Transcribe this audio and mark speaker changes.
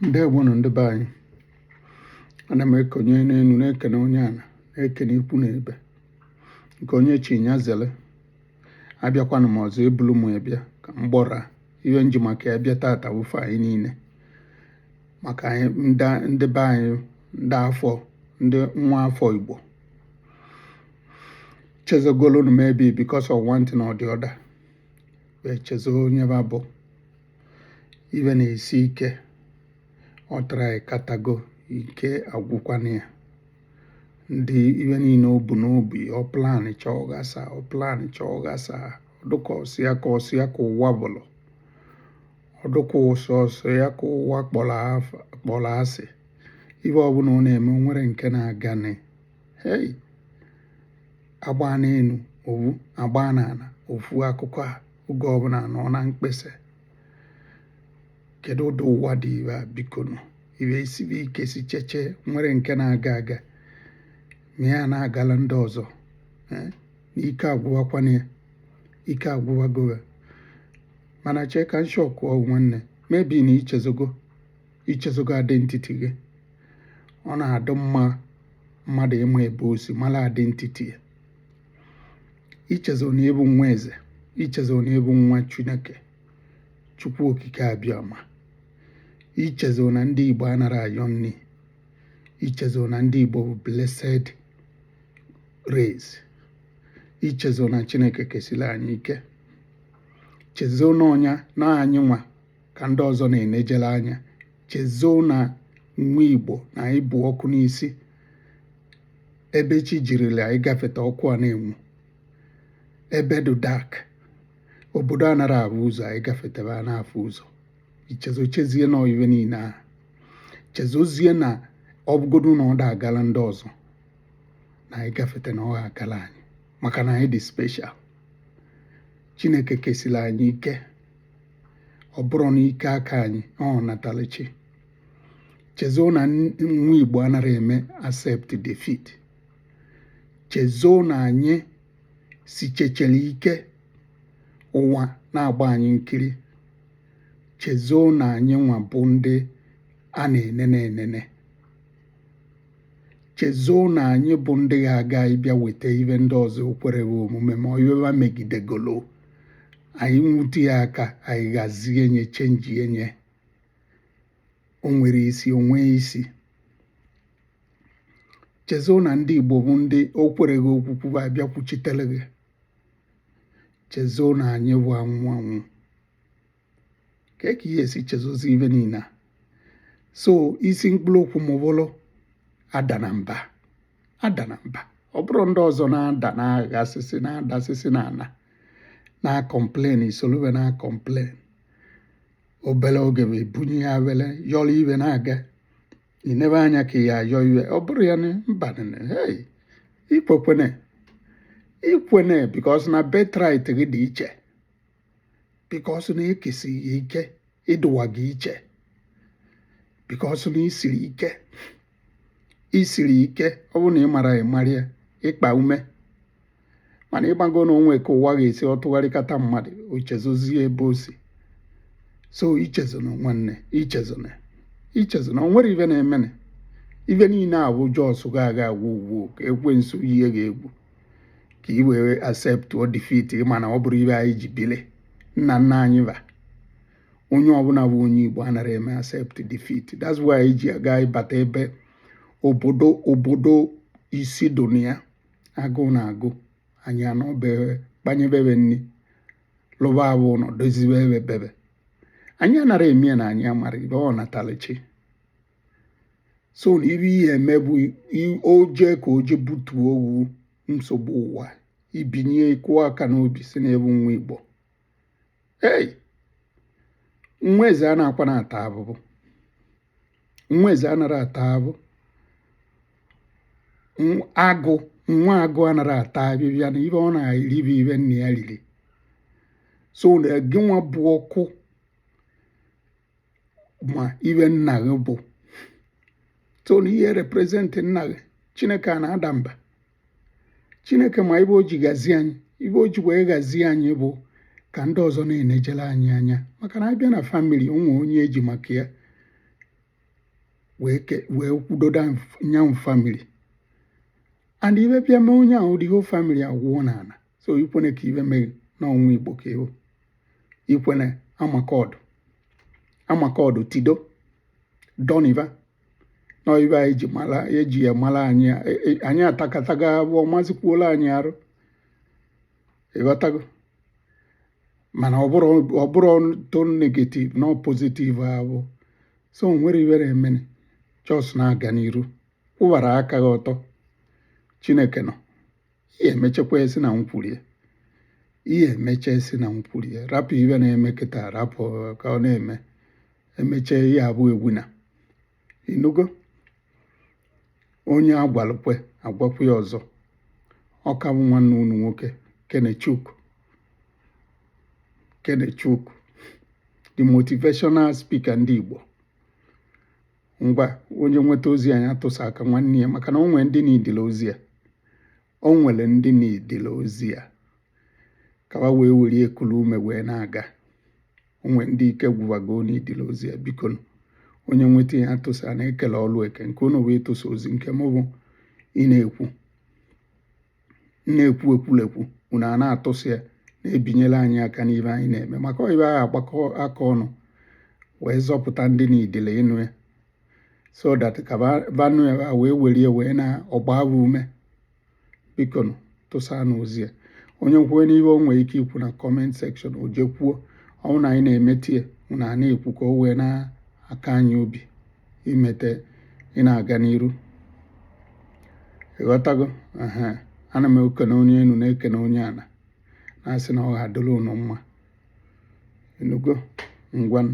Speaker 1: ndewonụ ndị be anyị ana m ekene onye enu na-ekene onye ana na-ekene ikwu na ibe nke onye chi nya zele abịakwanụ m ọzọ ebulu m bịa ka m gwa ọra ive m ji maka ya bịa tata wụfe anyị niile maka anyị ndị be anyị ndị afọ ndị nwa afọ igbo chezogolu nụ maybe because of one thing or the other wee chezo onye ba bụ ive na-esi ike ọ try katago ike agwụkwanụ ya ndị ive niile o bu n'obi ọ plansịa ọ ghasa ọ plansịa ọ ghasa ọ dụ ka ọ sọsọ ya ka ụwa bụlụ ọ dụ ka ọ sọsọ ya ka ụwa kpọrọ asị ive ọbụla ọ na-eme nwere nke na-aganụ hei a gbaa n'enu ofu a gbaa n'ana ofu akụkọ a oge ọbụla ọ nọ na mkpesa kedu ụdị ụwa dị ive a bikonụ ive esibe ike si cheche nwere nke na-aga aga ma ya na-agala ndị ọzọ eh, na ike agwụwakwanụ ya ike agwụwago va mana chee ka m sịkwuo gị nwanne maybe na i chezogo i chezogo identity gị ọ na-adị mma mmadụ ịma ebe o si mara identity ya i chezo na ị bụ nwa eze i chezo na ị bụ nwa chineke chukwu okike abịama i chezo na ndị igbo anara ayọ nni i chezo na ndị igbo bụ blessed race i chezo na chineke kesiri anyị ike chezo na ọ nya na anyị nwa ka ndị ọzọ na-enejere anya chezo na nwa igbo na ị bụ ọkụ n'isi ebe chi jirila anyị gafeta ọkụ a na-enwu ebe dị dark obodo anara ahụ ụzọ anyị gafetebe a na-afụ ụzọ i chezo chezie na ọ ive niile ahụ i chezozie na ọ bụgodu na ọ da-agala ndị ọzọ na anyị gafete na ọ ga-agala anyị maka na anyị dị special chineke kesiri anyị ike ọ bụrụ n'ike aka anyị ọ natalu chi chezo na nwa Igbo anara eme accept defeat chezo na anyị si chechere ike ụwa na-agba anyị nkiri chezo na anyị nwa bụ ndị a na-enene enene chezo na anyị bụ ndị ga-aga ịbịa weta ive ndị ọzọ kwere omume ma ive ụwa megidegolo anyị nwute ya aka anyị gazie nye changie nye o nwere isi o nwee isi chezona ndị Igbo bụ ndị o kwerọ gị okwukwu a bịa kwuchitere gị chezona anyị bụ anwụ anwụ kee ka ị ya-esi chezozi ive niile so isi mkpụrụ okwu m bụrụ adana mba adana mba ọ bụrụ ndị ọzọ na-ada na-aghasịsị na-adasịsị n'ana na-acomplain i soro ve na-acomplain obere oge bụ ibunye ya were yọrọ ive na-aga inebe anya ka ya ayọ ive ọ bụrọ ya na mba ikwekwene ikwene because na birthright gị dị iche because na e kesi gị ike ị dụwaga iche because na i siri ike i siri ike ọ bụrụ na ị mara ịmarịa ịkpa ume mana ị mago na o nwe ka ụwa ga-esi ọ tụgharịkata mmadụ o chezozie ebe o si so ichezona nwanne ichezona ichezona o nwerọ ive na-emene ive niile avụ just ga-aga agwa ugwu ka ekwensu eyi gị egwu ka i wee acceptuo defeat mana ọ bụrọ ive anyị ji bili nna nna anyị va onye ọbụla bụ onye igbo anara eme accept defeat that's why anyị ji aga ịbata ebe obodo obodo isi dụ na ya agụụ na-agụ anyị anọ be ve kpanyeve ve nri lụvara ve ụlọ dozive ebe be ve anyị anara eme na anyị amarọ ive ọnatalụchi so na ive ị ya-eme bụ o je ka o je butuo owu nsogbu ụwa i binye ị kụọ aka n'obi sị na ị bụ nwa igbo ei nwa eze anakwana ata avụvụ nwa eze anara ata avụvụ agụ nwa agụ anara ata avịvịa na ive ọ na-eri bụ ive nna ya riri so na gịnwa bụ ọkụ ma ive nna gị bụ so na ị ya-represent nna gị chineke anara ada mba chineke ma ive o ji gazie anyị ive o ji wee gazie anyị bụ ka ndị ọzọ na-enejere anyị anya maka na a bịa na family o nwe onye e ji maka ya wee kwudodo nya bụ family and ive bịa mee onye ahụ the whole family awụọ n'ala so ikwene ka ive mee na ọ nwa igbo ka ị wụ ikwene ama ka ọ dụ ama ka ọ dụ tido doniva na ive anyị ji mara e ji ya mara anyị e- e- anyị atakatago avụvụ ọ mazikwuola anyị arụ ị ghọtago mana ọ bụrụ ọ bụrụ turn negative na positive avụ so o nwerọ ive na-emene just na-aga n'iru kwụbara aka gị ọtọ chineke nọ ị ya-emechekwa esi na ukwu rie ị ya-emecha esi na ukwu rie rapụ ive na-eme kịta rapụ ka ọ na-eme emecha ị ya-abụ a winner ị nụgo onye a gwalụ kwe agwakwa ya ọzọ ọ ka bụ nwanne unu nwoke Kenechukwu Kenechukwu the motivational speaker ndị Igbo ngwa onye nweta ozi a nya tụsa aka nwanne ya maka na o nwere ndị na-edile ozi a o nwere ndị na-edile ozi a ka ha wee were ya kulu ume wee na-aga o nwere ndị ike gwụwago n'idile ozi a biko onye nweta nya tụsa na e kelụ ọlụ eke nke unu bụ ịtụsa ozi nke mụ bụ ị na-ekwu na-ekwu ekwulekwu unu a na-atụsa ya na-ebinyere anyị aka n'ive anyị na-eme maka ibe anyị agbakọ aka ọnụ wee zọpụta ndị na-edile ịnụ ya so that ka va nụ ya wee were ya wee na-agba ume biko tụsanụ ozi a onye kwuo n'ihe o nwere ike ikwu na comment section o je kwuo ọ bụ na anyị na-emete ya unu a na-ekwu ka o wee na-aka anyị obi imete ị na-aga n'iru ịghọtago ana m ekene onye enu na-ekene onye ana na-asị na ọ ga-adịrị unu mma ị nụgo ngwanụ